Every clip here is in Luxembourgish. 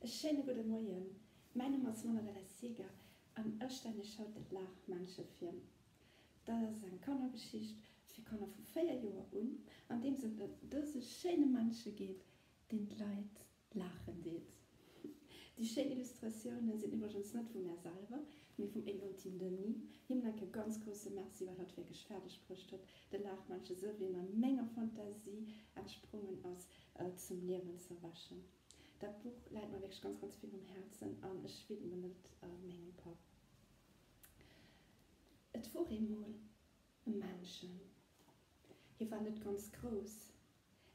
E schéine gudde Moien, mäin Numm ass Manuela Seeger an ech stellen iech haut de Laachmännche vir. Dat ass eng Kannergeschicht fir Kanner vu 4 Joer un, an deem et ëm dëse schéine Männche geet, deen d'Leit laachen deet. Déi schéin Illustratioune sinn iwwregens net vu mär selwer, mee vum Eglantine Denis. Him mengen e ganz grousse Merci, well hatt wierklech fäerdeg bruecht huet, de Laachmännche, esou wéi en a menger Fantasie entsprongen ass, zum Liewen ze erwächen. Dat Buch läit mer wierklech ganz, ganz vill um Häerzen an ech widmen et mengem Papp. Et wor eemol e Männchen. Hie war net ganz grouss,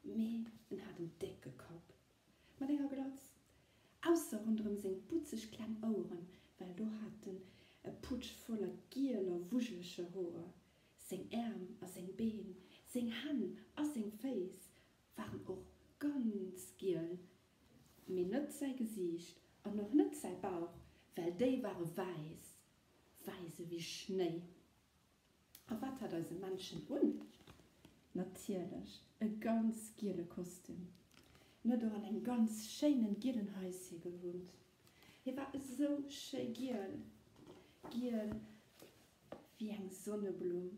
mee en hat en décke Kapp mat enger Glatz, ausser ronderëm seng butzeg kleng Oueren, well do hat en e Putsch voller gieler, wujeleger Hoer. Seng Äerm a seng Been, seng Hänn a seng Féiss Waren och ganz giel, mee net säi Gesiicht an och net säi Bauch, well déi ware wäiss, wäiss ewéi Schnéi. A wat hat eise Männchen un? Natierlech e ganz giele Kostüm. En huet och an engem ganz schéinen gielen Häuschen gewunnt. Hie war esou schéi giel, giel ewéi eng Sonneblumm.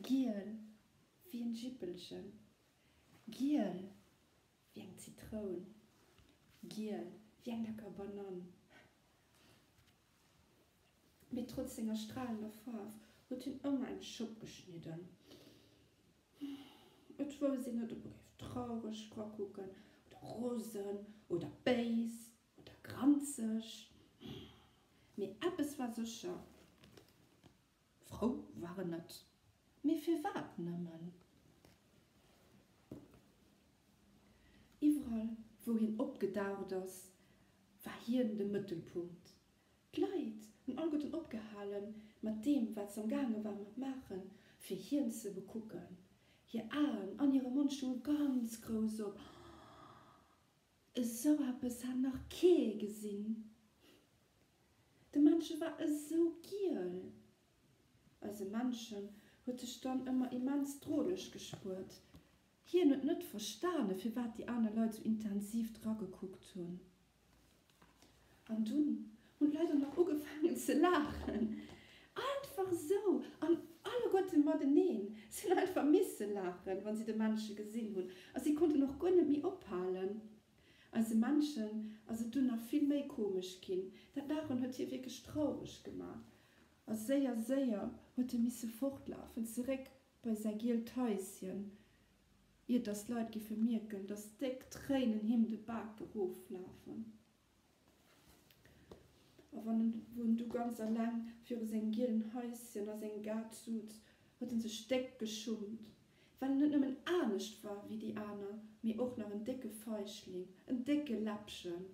Giel wéi en Jippelchen. Giel wéi eng Zitroun. Giel wéi eng lecker Banann. Mee trotz senger stralender Faarf huet hien ëmmer eng Schopp geschnidden. Et wouss een net, ob e géif traureg dra kucken oder rosen oder béis oder granzeg. Mee eppes war sécher. Frou war en net, mee firwat nëmmen? Iwwerall wou hien opgedaucht ass, war hien de Mëttelpunkt. D'Leit hunn alleguerten opgehalen mat deem wat se am gaange war mat maachen, fir hien ze bekucken. Hir Aen an hire Mond stounge ganz grouss op. Esou eppes hat nach kee gesinn. De Männche war esou giel. Eise Männchen huet sech dann ëmmer immens droleg gespuert. Hien huet net verstane firwat déi aner Leit sou intensiv dragekuckt hunn. An dunn hunn d'Leit och nach ugefaangen ze laachen. Einfach esou! An alleguerte mateneen. Si hunn einfach misse laachen, wa si de Männche gesinn hunn. A si konnten och guer net méi ophalen. Eise Männchen ass et dunn nach vill méi komesch ginn. Dat Laachen huet hie wierklech traureg gemaach. A séier, séier huet e misse fortlafen, zeréck bei säi gielt Häischen. ier dass d'Leit giffe mierken, dass déck Tréinen him de Bak eroflafen, a wann en won du ganz alleng viru sengem gielen Haisschen a sengem Gaart suz, huet en sech déck geschummt, well en net nëmmen anescht war wéi déi aner, mee och nach en décke Feichling, en décke Läppchen.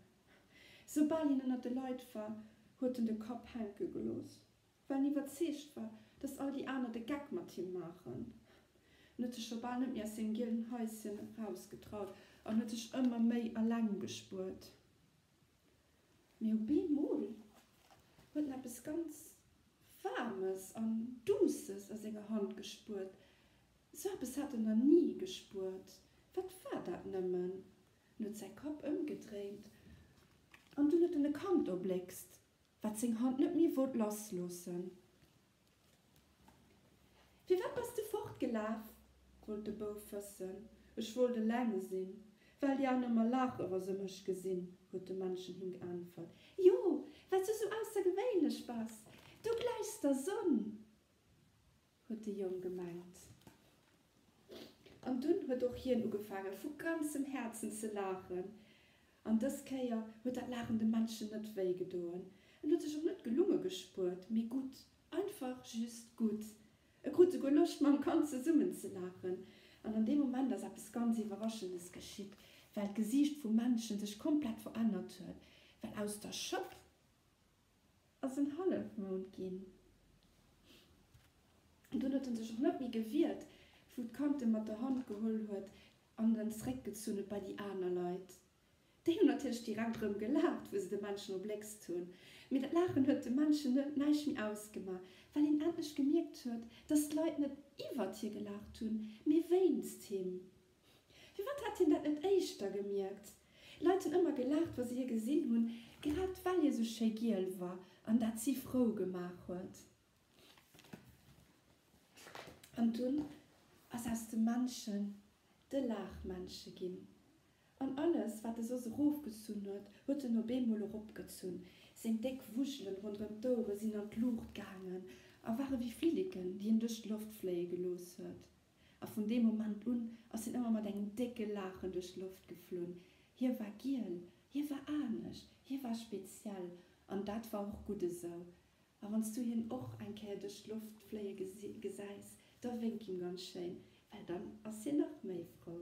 Soubal hien ënnert de Leit war, huet en de Kapp hänke gelooss. Well en iwwerzeegt war, dass all déi aner de Geck mat him maachen. En huet sech scho bal net méi aus sengem gielen Haischen erausgetraut an huet sech ëmmer méi eleng gespuert. Mee op eemol huet en eppes ganz Waarmes an Duusses a senger Hand gespuert. Esou eppes hat en nach ni gespuert. Wat war dat nëmmen? En huet säi Kapp ëmgedréint an dunn huet en e Kand erbléckst. Wat seng Hand net méi wollt lass loossen. Firwat bass de fortgelaf? wollt de Bouf wëssen. Ech wollt eleng sinn, well déi aner mer laache wa se mech gesinn, huet de Männchen him geäntwert. Jo, well s du sou aussergewéinlech bass. Du gläichs der Sonn. huet de Jong gemengt. An dunn huet och hien ugefaange vu ganzem Häerzen ze laachen. An dës Kéier huet dat Laachen de Männchen net wéi gedoen. En huet sech och net gelunge gespuert, mee gutt, einfach just gutt. E krut souguer Loscht mam Kand zesummen ze laachen. An an deem Moment ass eppes ganz Iwwerraschendes geschitt, well d'Gesiicht vum Männchen sech komplett verännert huet, well aus der Schëpp, ass en Hallefmound ginn. Dunn huet en sech och net méi gewiert, wou d'Kand en mat der Hand geholl huet an en zréck gezunn huet bei déi aner Leit. Déi hunn natierlech direkt erëm gelaacht, wou se de Männchen erbléckst hunn. Mee dat Laachen huet dem Männchen näischt méi ausgemaach, well hien endlech gemierkt huet, dass d'Leit net iwwert hie gelaacht hunn, mee wéinst him. Firwat hätt hien dat net éischter gemierkt? Leit hunn ëmmer gelaacht, wa se hie gesinn hunn, grad well hie sou schéi giel war an dat si frou gemaach huet. An dunn ass aus dem Männchen de Laachmännche ginn. An alles, wat e soss erofgezunn huet, huet en op eemol eropgezunn. Seng déck Wujelen ronderëm d'Ouere sinn an d'Luucht gaangen a ware wéi Flilliken, déi en duerch d'Loft fléie gelooss huet. A vun deem Moment un ass hien ëmmer mat engem décke Laachen duerch d'Loft geflunn. Hie war giel, hie war anescht, hie war speziell an dat war och gutt esou. A wann s du hien och eng Kéier duerch d'Loft fléie gesäis, da wénk him ganz schéin, well dann ass hien nach méi frou.